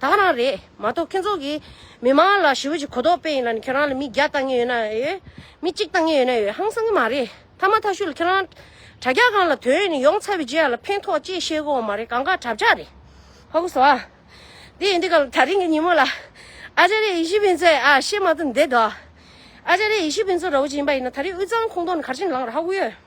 དག་རང་རེད་མ་གཏོགས་ཁྱོད་ཚོ་གིས་མི་མང་ལ་ཞི་བ་གྱི་གོ་རྟོགས་སྤེལ་ཡིན་ལ་ནི་ཁྱོད་རང་ལ་མི་བརྒྱ་བཏང་ངེས་ཡོད་ན་ཡོད། མི་གཅིག་བཏང་ངེས་ཡོད་ན་ཡོད་ཧང་སང་གི་མ་རེད་ཐ་མ་ཐ་ཤུ་ལ་ཁྱོད་རང། དྲ་རྒྱ་སྒང་ལ་དོན་ཡོད་ནི་ཡོང་ཚར་བའི་རྗེས་ཡར་ལ་ཕན་ཐོགས་ཅེས་བཤད་དགོས་བ་མ་རེད་གང་དགའ་གྲབས་ཅག་རེད། ཧོ་གོ་སོ། དེ་ཡིན་དུས་སྐབས་ལ་ད་རིང་གི་ཉིན་མོ་ལ། ཨ་ཅཱ་རེ་ཡེ་ཤི་ཕིན་ཚོས་ཨ་ཤེ་མ་ཏུ་འདེད་དོ། ཨ་ཅཱ་རེ་ཡེ་ཤི་ཕིན་ཚོ་ར་བོ་ཅི་ཡིན་པ་ཡིན་ན་ད་རིང་དབུས་གཙང་ཁོངས་གཏོགས་ནི་གར་ཕྱིན་ལངས་ར་ཧ་གོ་ཡོད།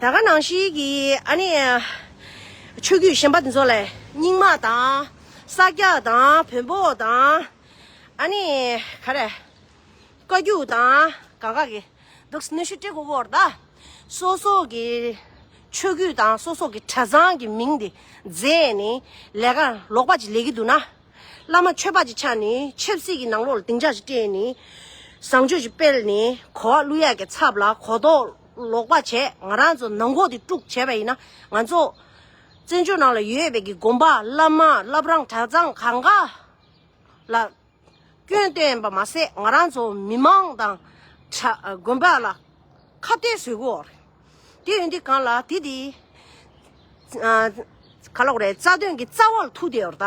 ད་ག་ནང་ཞིག་གི་ཨ་ནི། ཆོས་བརྒྱུད་གཞན་པ་འདི་ཚོ་ལས་རྙིང་མ་དང། ས་སྐྱ་དང་བོན་པོ་དང། ཨ་ནི། ག་རེ། བཀའ་བརྒྱུད་དང་གང་ག་གི། འདུག་གནོད་བཤུ་སྤྲེལ་སྒོ་བོར་ད། སོ་སོ་གི། ཆོས་བརྒྱུད་དང་སོ་སོ་གི་གྲྭ་ཚང་གི་མིང་འདི། རྫས་ནི། ལས་ཀ་ལོག་པ་ཅིག་ལས་ཀི་འདུག་ན། བླ་མ་ཆོས་པ་ཅིག་ཆགས་ནི་ཆབ་སྲིད་ཀི་ནང་ལོག་ལ་སྡིངས་ཆ་ཞིག་སྤྲད་ནི། བཟང་སྤྱོད་ཅིག་སྤེལ་ནི་གོ་བ་བླུ་ཡ་གི་ཚབ་ལ་གོ་རྟོགས། ལོག་པར་བྱས་ང་རང་ཚོ་ནང་འགོག་དེ་དཀྲུགས་བྱས་པ་ཡིན་ན་ང་ཚོ་བཙན་བྱོལ་ནང་ལ་ཡོད་པའི་གི་དགོན་པ་བླ་མ་བླ་བྲང་གྲྭ་ཚང་གང་ག་ལ་སྐྱོན་བསྟན་པ་མ་ཟད་ང་རང་ཚོ་མི་མང་དང་དགོན་པ་ལ་ཁ་གཏད་བཟོས་གི་འོག་རེད་དེ་ཡོན་ཏི་གང་ལ་དེ་དེ་ག་ལོག་རེད་རྩ་དོན་གི་རྩ་བ་ལ་ཐུག་དེ་འོར་ད།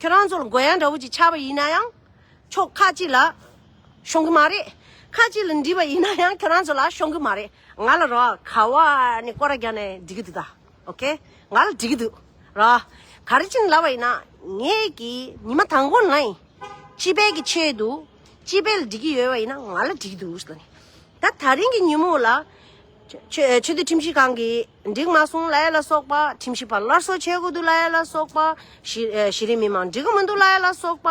ཁྱོད་རང་ཚོ་ལ་རྒོལ་ཡ་འདྲ་བོ་ཅིག་ཆགས་པ་ཡིན་ན་ཡང་ཆོག་ཁ་ཅིག་ལ་ཤོང་གི་མ་རེད། ཁ་ཅིག་ལ་འདྲིས་པ་ཡིན་ན་ཡང་ཁྱོད་རང་ཚོ་ལ་ཤོང་གི་མ་རེད། ང་ལ་རོགས་ག་བ་ནས་སྐོར་ར་རྒྱག་ནས་འགྲིག་གི་འདུག་ད། ok། ང་ལ་འགྲིག་གི་འདུག་རོགས། ག་རེ་ཅིག་ལབ་པ་ཡིན་ན་ངས་ཀྱིས་ཉི་མ་དང་པོ་ནས་སྤྱི་པའི་གི་ཆེད་དུ་སྤྱི་པའི་ལ་འགྲིག་གི་ཡོད་པ་ཡིན་ན་ང་ལ་འགྲིག་གི་འདུག་ཟེར་ནས། ད་ད་རིང་གི་ཉིན་མོ་ལ། ཆོས་ཆོས་དོན་ཁྲིམས་ཞིབ་ཁང་གི་འགྲིག་མ་སོང་ལ་ཡ་ལ་སོགས་པ་ཁྲིམས་ཞིབ་པ་སླར་གསོ་བྱེད་དགོས་འདུག་ལ་ཡ་ལ་སོགས་པ། གཞི་གཞི་རིམ་མི་མང་འགྲིག་གི་མི་འདུག་ལ་ཡ་ལ་སོགས་པ།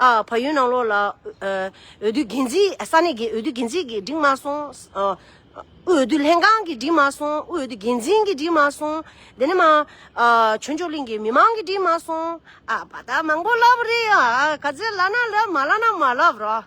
ཨ་ཕ་ཡུལ་ནང་ལོགས་ལ། འོས་བསྡུ་འགན་འཛི་ས་གནས་ཀྱི་འོས་བསྡུ་འགན་འཛིན་གྱིས་འགྲིག་མ་སོང། དབུས་འོས་བསྡུ་ལྷན་ཁང་གིས་འགྲིག་མ་སོང་དབུས་འོས་བསྡུ་འགན་འཛིན་གྱིས་འགྲིག་མ་སོང། དེ་ནས་མ། ཆོས་མཆོག་གླིང་གི་མི་མང་གིས་འགྲིག་མ་སོང། ཨ་ཕ་ད་མང་པོ་ལབ་རེད་ཨ་ག་ཚད་ལབ་ན་ལབ་མ་ལབ་ན་མ་ལབ་རོགས།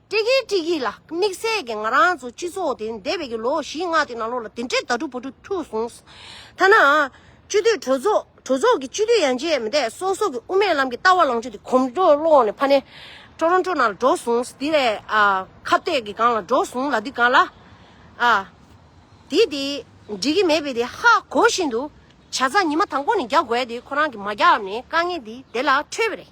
ཀྲིག་གིག་ཀྲིག་གིག་ལ་དམིགས་བསལ་གྱི་ང་རང་ཚོ་སྤྱི་ཚོགས་དེ་འདས་པའི་གི་ལོ་བཞི་ལྔ་དེ་ནང་ལོགས་ལ་དེ་འདྲའི་དྭ་ཕྲུག་བུ་ཕྲུག་ཐུག་སོང། ཐ་ན། སྤྱི་འཐུས་གྲོས་ཚོགས་གྲོས་ཚོགས་ཀྱི་སྤྱི་འཐུས་ཡང་བྱས་མི་འདས་སོག་སོག་གི་དབུ་མའི་ལམ་གྱི་ལྟ་བ་ལང་ཆོས་དེ་གོམ་བགྲོད་བསློགས་ནས་ཕ་ནས་ཀྲོ་རོན་ཀྲོ་ནང་ལ་འགྲོ་སོང་དེ་ལས་ཁ་བཏད་གི་སྒང་ལ་འགྲོ་སོང་ལ་དེ་ག་ལ་ཨ། དེ་དེ་འགྲིག་གི་མེད་པས་དེ་ཧ་གོ་བཞིན་དུ་བྱ་ཚ་ཉི་མ་དང་པོ་ནས་རྒྱག་དགོས་དེ་ཁོ་རང་གི་མ་རྒྱག་ནས་དཀའ་ངལ་དེ་དེ་ལ་འཕྲོད་པ་རེད།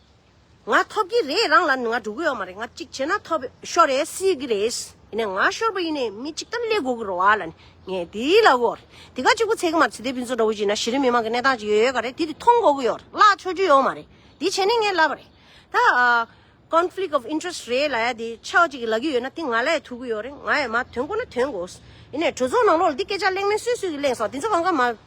ང་ཐོབ་ཀྱི་རེད་རང་ལ་ང་འགྲོ་གི་ཡོད་མ་རེད་ང་གཅིག་བྱས་ན་ཐོབ་ཤོར་རེད་སྲིད་ཀྱི་རེད་ཡིན་ནས་ང་ཤོར་བ་ཡིན་ནས་མི་གཅིག་ལྟར་ལས་དགོས་ཀྱི་རོ་ཨ་ལ་ནི་ངས་དེའི་ལ་གོ་རེད་དེ་ག་གཅིག་པུ་ཚད་ཀྱི་མ་རེད་ཚེ་འདས་ཕུན་ཚོགས་འདྲ་བོ་ཅིག་ན་གཞི་རིམ་མི་དམངས་ཀྱི་གནས་སྟངས་ཅིག་ཡོད་ཡོད་ག་རེད་དེ་དེ་མཐོང་དགོས་ཀྱི་ཡོད་རེད་གླགས་ཆོད་རྒྱུ་ཡོད་མ་རེད་དེ་བྱས་ནས་ངས་ལབ་པ་རེད་ད Conflict of interest རེད་ལ་ཡ་དེ་ཆགས་ཅིག་ལབ་ཀྱི་ཡོད་ན་དེ་ང་ལ་ཡ་ཐུག་གི་ཡོད་རེད་ང་ཡ་མ་དོན་དགོས་ན་དོན་དགོས་ཡིན་ནས་གྲོས་ཚོགས་ནང་ལོགས་ལ་འདི་སྐད་ཆ་གླེང་མིན་སུས་སུས་ཀྱིས་གླེང་སོང་དེ་ཚོ་གང་ག་མ།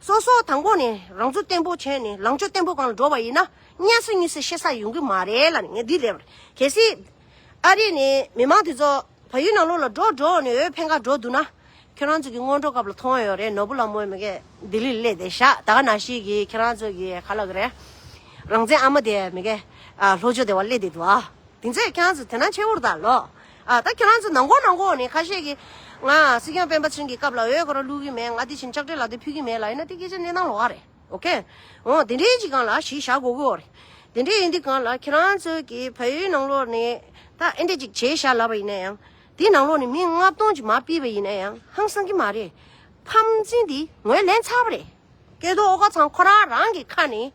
སོ་སོ་དང་པོ་ནས་རང་ཚུགས་བརྟན་པོ་བྱས་ནས་ལངས་ཕྱོགས་བརྟན་པོ་གང་ལ་འགྲོ་བ་ཡིན་ན་གཉའ་ས་གཉིས་ས་ཤེས་ས་ཡོང་གི་མ་རེད་ལ་ངས་འདི་ལས་པར་གལ་སྲིད། ཨ་རི་ནས་མི་མང་དེ་ཚོ་བལ་ཡུལ་ནང་ལོགས་ལ་འགྲོ་འགྲོ་ནས་འོས་འཕེན་ཁར་འགྲོ་འདུག་ན། ཁྱོད་རང་ཚོ་གི་སྔོན་འགྲོ་སྐབས་ལ་མཐོང་ཡོད་རེད་ནོར་བུ་ལ་མོ་མི་གས་ལྡི་ལིར་སླེབས་ཏེ་ཤ་ད་ག་ན་ཞིག་གིས་ཁྱེད་རང་ཚོ་གི་ཁ་ལག་རེད། རང་བཙན་ཨ་མ་དེ་མི་གས་ལྷོ་ཕྱོགས་དེ་བ་སླེབས་ཏེ་འདུག་ཨ། དེ་ཚོས་ཁྱེད་རང་ཚོ་དེ་ན་ཆེ་བོར་ད་ལོག། ཨ། ད་ཁྱེད་རང་ཚོ་ནང་གོ་ནང་གོ་ནི་ཁ་ཤས་ཀྱིས། ང་སྲིད་སྐྱོང་སྤེན་པ་ཚུན་གྱི་སྐབས་ལ་འོས་ཁོ་ར་བླུག་གི་མེད་ང་དེ་བྱིན་ཆགས་སྤྲེལ་ལ་དེ་ཕུལ་གྱི་མེད་ལ་ཡིན་ན་དེ་སྐད་ཆ་གནས་སྟངས་ལོག་ག་རེད་ཨོ་ཁེ། འོ་དེ་འདྲའི་གཅིག་གང་ལ་གཞི་བཞག་གོ་གོ་རེད། དེ་འདྲའི་ཡིན་དུས་གང་ལ་ཁྱེད་རང་ཚོས་ཀྱི་བལ་ཡུལ་ནང་ལོག་ནས་ད་ཨེ་འདྲས་ཅིག་བྱས་བཞག་ལབ་པ་ཡིན་ན་ཡང། དེའི་ནང་ལོག་ནས་མི་ལྔ་སྟོང་ཅིག་མ་སྤིས་པ་ཡིན་ན་ཡང་ཧང་སང་གི་མ་རེད། ཕམ་ཚིན་དེ་ངོས་ལེན་ཚར་བ་རེད། སྐལ་རྡོར་ཨོ་ཁ་ཚང་ཁོ་རང་རང་གི་ཁ་ནས་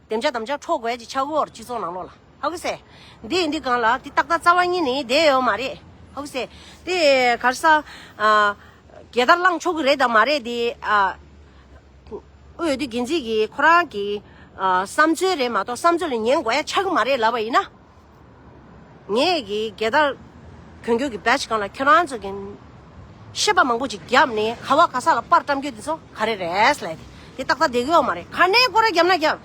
བདེ་འཇགས་དམ་བཅའ་འཕྲོག་དགོས་ཀྱི་ཆག་འོར་སྤྱི་ཚོགས་ནང་ལོག་ལ་ཧ་གི་སེ། འདི་ཡིན་འདི་གང་ལ་དེ་ཏག་ཏག་རྩ་བ་ཉིད་ནི་དེ་ཡོད་མ་རེད་ཧ་གི་སེ། དེ་གར་ས། རྒྱལ་དར་བླངས་ཆོག་གི་རེད་དང་མ་རེད་དེ། འོས་བསྡུ་འགན་འཛིན་གྱིས་ཁོ་རང་གི། བསམ་ཚུལ་རེད་མ་གཏོགས་བསམ་ཚུལ་ལ་ཉན་དགོས་ཡ་ཆག་གི་མ་རེད་ལབ་པ་ཡིན་ན། ངས་ཀྱི་རྒྱལ་དར་གྱོན་རྒྱུ་གྱི Badge གང་ལ་ཁྱོད་རང་ཚོ་གིས་ཤེས་པ་མང་པོ་ཅིག་བརྒྱབ་ནས་ཁ་བ་ག་ས་ལ་དཔར་བཀྲམ་རྒྱུ་དེ་ཚོ་ག་རེ་རེད་ལས་དེ་ཏག་ཏག་བསྡད་ཀྱི་ཡོད་མ་རེད་ག་ནས་སྐོར་ར་བརྒྱབ་ན་ཀྱང་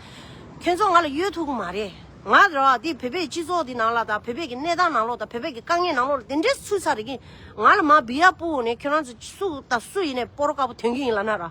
ཁྱོད་ཚོ་ང་ལ་གཡོལ་ཐུབ་ཀྱི་མ་རེད་ང་རོ་འདི་བོད་པའི་སྤྱི་ཚོགས་འདི་ནང་ལ་དང་བོད་པའི་གྱི་གནས་སྟངས་ནང་ལོགས་དང་བོད་པའི་གྱི་དཀའ་ངལ་ནང་ལོགས་ལ་དེ་འདྲའི་ཚུལ་ཚ་རེ་གིས་ང་ལ་མ་བི་ཡ་པུའུ་ནས་ཁྱོད་རང་ཚོ་སུ་དང་སུ་ཡིན་ནས་སྤོ་རོ་དཀར་པོ་དོན་གྱི་ཡིན་ལ་ན་ར།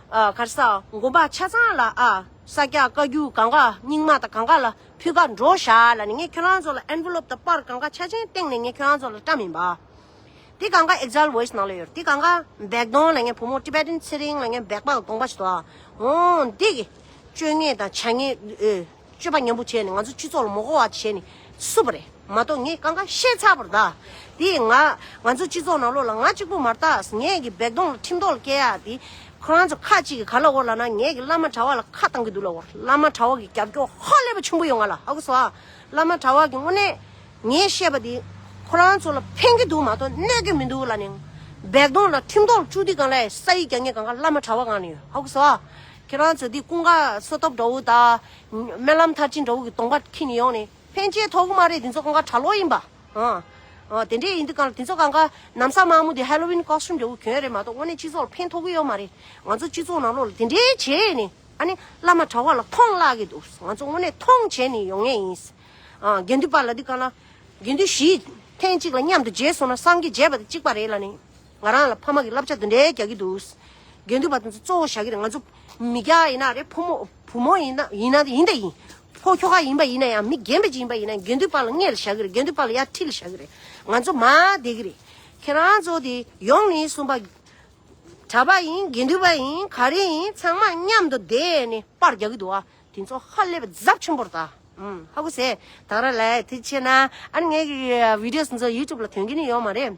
གར་ས་མགོན་པ་ཆ་ཚང་ལ་ཨ། ས་སྐྱ་བཀའ་བརྒྱུད་གངྒཱ་རྙིང་མ་དང་གངྒཱ་ལ་ཕུད་ཁ་འགྲོ་བཞག་ལ་ནི་ངས་ཁྱོད་རང་ཚོ་ལ Envelope དང་པར་གངྒཱ་ཆ་ཆེན་སྟེང་ནས་ངས་ཁྱོད་རང་ཚོ་ལ་བཀྲ་མིན་པ། དེ་གངྒཱ Exile Voice ནང་ལ་ཡོད་རེད་དེ་གངྒཱ་འབེག་གདོང་ལ་ངས་བུ་མོ Tibetan ཚེ་རིང་ལ་ངས་འབེག་པ་དགོངས་པ་ཞིག་དོ་ཨ་འོང་འདི་གི་སྤྱོད་ངན་དང་བྱ་ངན། སྤྱོད་པ་ཉམས་པོ་བྱས་ནས་ང་ཚོ་སྤྱི་ཚོགས་ལ་མོ་གོ་བ་བྱས་ནས་བསུབ་པ་རེད་མ་གཏོགས་ངས་གང་གང་བཤད་ཚར་བར་གདའ། དེ་ཡིན་ང་ང་ཚོ་སྤྱི་ཚོགས་ནང་ལོགས་ལ་ང་གཅིག་པོ་མ་གཏགས་ངས་ཀྱི་འབད་གཏོང་ལ་ཁྲིམས་ཐོག་ལ་བསྐྱལ་ཡག་དེ། ཁོ་རང་ཚོ་ཁ་གཅིག་གིས་ག་ལ་འོར་ལ་ན་ངས་ཀྱི་བླ་མ་གྲྭ་བ་ལ་ཁ་བཏང་གི་འདུག་ལ་འོར་བླ་མ་གྲྭ་བ་གི་རྒྱབ་སྐྱོར་ཧ་ལས་པ་ཆེན་པོ་ཡོད་ང་ལ་ཨ་ཁུ་ཟོ། བླ་མ་གྲྭ་བ་གི་དངོས་གནས་ངས་བཤད་པ་དེ། ཁོ་རང་ཚོ་ལ་ཕན་གྱི་འདུག་མ་གཏོགས་གནོད་ཀྱི་མི་འདུག་ལ་ནི། འབད་གཏོང་ལ་ཁྲིམས་ཐོག་ལ་བཅུག་དེ་གང་ལས་ས་ཡིག་རྒྱ་ངས་གང་གང་བླ་མ་གྲྭ་བ་གང་ནས་ཡོད་ཨ་ཁུ་ཟོ། ཁྱེད་རང་ཚོས་འདི་ཀུན་དགའ་བསོད་སྟོབས་འདྲ་བོ་དང། སྨོན་ལམ་མཐར་ཕྱིན་འདྲ་བོ་གི་གདོང་པ་འཁྱིལ་ནས་ཡོང་ནས་ཕན་ཆད་ཐོག་མ་རེད་འདི་ཚོ་ཀུན་དགའ་གྲྭ་ལོག་ཡིན་པ། དེ་འདྲས་ཡིན་དུས་གང་ལ་དེ་ཚོ་གང་ག་ནམ་ཟ་མ་མོ་དེ Halloween costume འདྲ་བོ་གྱོན་རེད་མ་གཏོགས་དངོས་གནས་སྤྱི་ཚོགས་ལ་ཕན་ཐོག་གི་ཡོད་མ་རེད་ང་ཚོ་སྤྱི་ཚོགས་ནང་ལོག་ལ་དེ་འདྲས་བྱས་ནས་ཨ་ནི་བླ་མ་གྲྭ་བ་ལ་མཐོང་བརླག་གི་འདུག་ང་ཚོ་དངོས་གནས་མཐོང་བྱས་ནས་ཡོང་ངེས་ཡིན། དགེ་འདུན་པ་ལ་འདི་གང་ལ། དགེ་འདུན་བཞི་ཐེངས་གཅིག་ལ་མཉམ་དུ་མཇལ་སོང་ན་སངས་རྒྱས་མཇལ་བ་དང་གཅིག་པ་རེད་ལ་ནི། ང་རང་ལ་ཕ་མ་གི་བསླབ་བྱ་འདི་འདྲའི་རྒྱག་གི་འདུག། དགེ་འདུན་པ་དེ་ཚོ་གཙོ་བོ་བྱ་གི་རེད་ང་ཚོ་མི་རྒྱ་ཡིན་ན་རེད་ཕོ་མོ་བུ་མོ་ཡིན་ན་ཡིན་ན་ཡིན་དེ་ཡིན། ཕོ་ཁྱོ་ག་ཡིན་པ་ཡིན་ན་ཡང་མི་རྒན་པ་ཅིག་ཡིན་པ་ཡིན་ན་དགེ་འདུན་པ་ལ་བརྔས་ལ་བྱ་གི་རེད་དགེ་འདུན་པ་ལ་ཡར་ཁྲིད་ལ་བྱ་གི་རེད་ང་ཚོ་མ་བསྡད་གི་རེད། ཁྱེད་རང་ཚོ་དེ་ཡོང་ནས་གསུམ་པ། གྲྭ་པ་ཡིན་དགེ་འདུན་པ་ཡིན་ག་རེ་ཡིན་ཚང་མ་མཉམ་དུ་བསྡད་ནས་པར་རྒྱག་གི་འདུག་ཨ། དེ་ཚོ་ཧ་ལས་པ་རྫབ་ཆེན་པོ་རེད་ད། ཧ་གོ་ཟེ། ཐང་ར་ལས་དེ་ཆེ་ན་ཨ་ནི་ངའི་བིདེའོ་ཚོ་ཡུ་ཏུབ་ལ་ཐོན་གི་ནི་ཡོད་མ་རེད།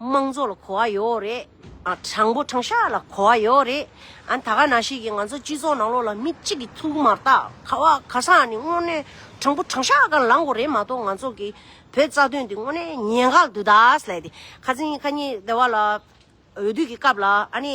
དམངས་གཙོ་ལ་གོ་བ་ཡོད་རེད། དྲང་པོ་དྲང་ཤག་ལ་གོ་བ་ཡོད་རེད། ད་ག་ན་ཞིག་གིས་ང་ཚོ་སྤྱི་ཚོགས་ནང་ལོགས་ལ་མི་གཅིག་གིས་ཐུགས་མ་བཏགས་ཁ་བ་ཁ་སང་ནས་དངོས་གནས་དྲང་པོ་དྲང་ཤག་ག་ལང་དགོས་རེད་མ་གཏོགས་ང་ཚོ་གི་བོད་རྩ་དོན་འདི་དངོས་གནས་ཉེས་འགག་དུ་ད་སླད་དེ་ཁ་ཚིག་ཁ་ཉེས་བདེ་བ་ལ་འོས་བསྡུ་གི་སྐབས་ལ་ཨ་ནི།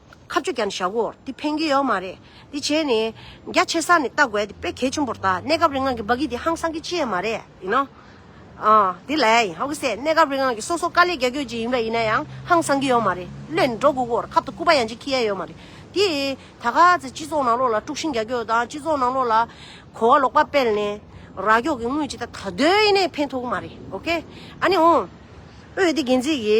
ཁ་བཅོ་བརྒྱབ་ནས་བཞག་གོ་འདི་ཕན་གྱི་ཡོད་མ་རེད་འདི་བྱས་ནས་རྒྱ་ཆེ་ས་ནས་བལྟ་དགོས་འདི་དཔེ་གལ་ཆེན་པོར་བལྟ་གནས་སྐབས་རིང་ལྔ་གི་འབའ་གི་འདི་ཧང་སང་གི་ཅི་ཡིན་མ་རེད་ཡིན་ནོ། ཨོ་འདི་ལས་ཡིན་ཧོ་གི་སེ་གནས་སྐབས་རིང་ལྔ་གི་སོ་སོ་དཀའ་ལས་རྒྱ་སྐྱོད་ཅིག་ཡིན་པ་ཡིན་ན་ཡང་ཧང་སང་གི་ཡོད་མ་རེད་བློས་ནི་འགྲོ་དགོས་གོ་ར་ཁབ་ཏུ་སྐུ་པ་ཡང་ཅིག་ཁྱི་ཡ་ཡོད་མ་རེད་འདི་ད་ག་ཚེ་སྤྱི་ཚོགས་ནང་ལོགས་ལ་དཀྲུགས་ཤིང་རྒྱ་སྐྱོད་དང་སྤྱི་ཚོགས་ནང་ལོགས་ལ་གོ་བ་ལོག་པ་སྤེལ་ནས་ར་སྐྱོག་གི་དངུལ་ཅིག་ད་ད་གདོད་ཡིན་ནས་ཕན་ཐོག་གི་མ་རེད་ཨོ་ཁེ་ཨ་ནི་འོ་འོས་བསྡུ་འགན་འཛིན་གྱི་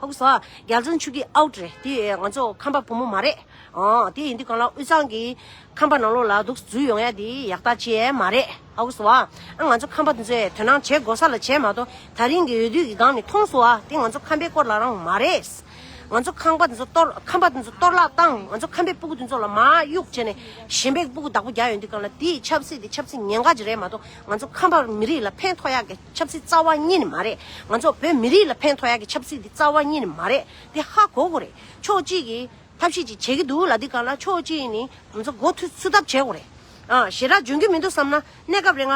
ཧཱུྃ་ས། རྒྱ་མཚོའི་ཆུ་སྐྱེས་ཨའུ་ཏྲེ། དེ་ཡིས་ང་ཚོ་ཁམས་པ་བུ་མོ་མ་རེད། དེ་ཡིན་དུས་གང་ལ་དབུས་གཙང་གི། ཁམས་པ་ནང་ལོག་ལ་དུག་རྫུས་ཡོང་ཡ་དེ་ཡག་ཐག་བཅད་ཡས་མ་རེད། ཧཱུྃ་ས། ང་ཚོ་ཁམས་པ་འདི་ཚོས་དོན་སྣང་བྱེད་དགོས་ས་ལ་བྱས་མ་གཏོགས་ད་རིང་གི་འོས་བསྡུ་གི་སྒང་ནི་མཐོང་སོ། དེ་ང་ཚོ་ཁམས་པའི་སྐོར་ལ་རང་མ་རེད། ང་ཚོ་ཁམས་པ་འདི་ཚོ་གཏོར་ཁམས་པ་འདི་ཚོ་གཏོར་བརླག་བཏང་ང་ཚོ་ཁམས་པའི་སྤུ་གུ་འདི་ཚོ་ལ་མར་གཡུག་བྱས་ནས་གཞན་པའི་སྤུ་གུ་བདག་པོ་རྒྱག་ཡོང་དུས་གང་ལ་དེ་ཡི་ཆབ་སྲིད་དེ་ཆབ་སྲིད་ངན་དགའ་ཅིག་རེད་མ་གཏོགས་ང་ཚོ་ཁམས་པ་མི་རིགས་ལ་ཕན་ཐོག་ཡག་གི། ཆབ་སྲིད་རྩ་བ་གཉིས་ནི་མ་རེད། ང་ཚོ་བོད་མི་རིགས་ལ་ཕན་ཐོགས་ཡག་གི་ཆབ་སྲིད་འདི་རྩ་བ་གཉིས་ནི་མ་རེད་དེ་ཧ་གོ་གོ་རེད། ཕྱོགས་གཅིག་གིས་ཐབས་ཤེས་ཅིག་བྱེད་ཀྱི་འདུག་ལ་འདི་ག་ལ་ཕྱོགས་གཅིག་ནི་ང་ཚོ་མགོ་འཐུ་ཚུད་ཐབས་བྱེད་གོ་རེད། ཞེ་དྲག་འཇོན་གྱི་མི་འདུག་བསམ་ན་གནས་སྐབས་རེ་ང་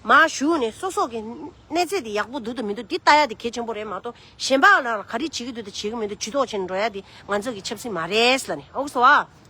མ་བཞུགས་ནས་སོ་སོག་གི་གནས་ཚད་དེ་ཡག་པོ་འདུག་དང་མི་འདུག་འདི་ལྟ་ཡ་དེ་གལ་ཆེན་པོ་རེད་མ་གཏོགས་གཞན་པ་ལ་ག་རེ་བྱེད་ཀྱི་འདུག་དང་བྱེད་ཀྱི་མི་འདུག་ཇུས་ཏོག་བྱེད་ནས་འགྲོ་ཡ་དེ་ང་ཚོ་གི་ཆབ་སྲིད་མ་རེད་ལ་ནི་ཨོ་སོ་ཨ།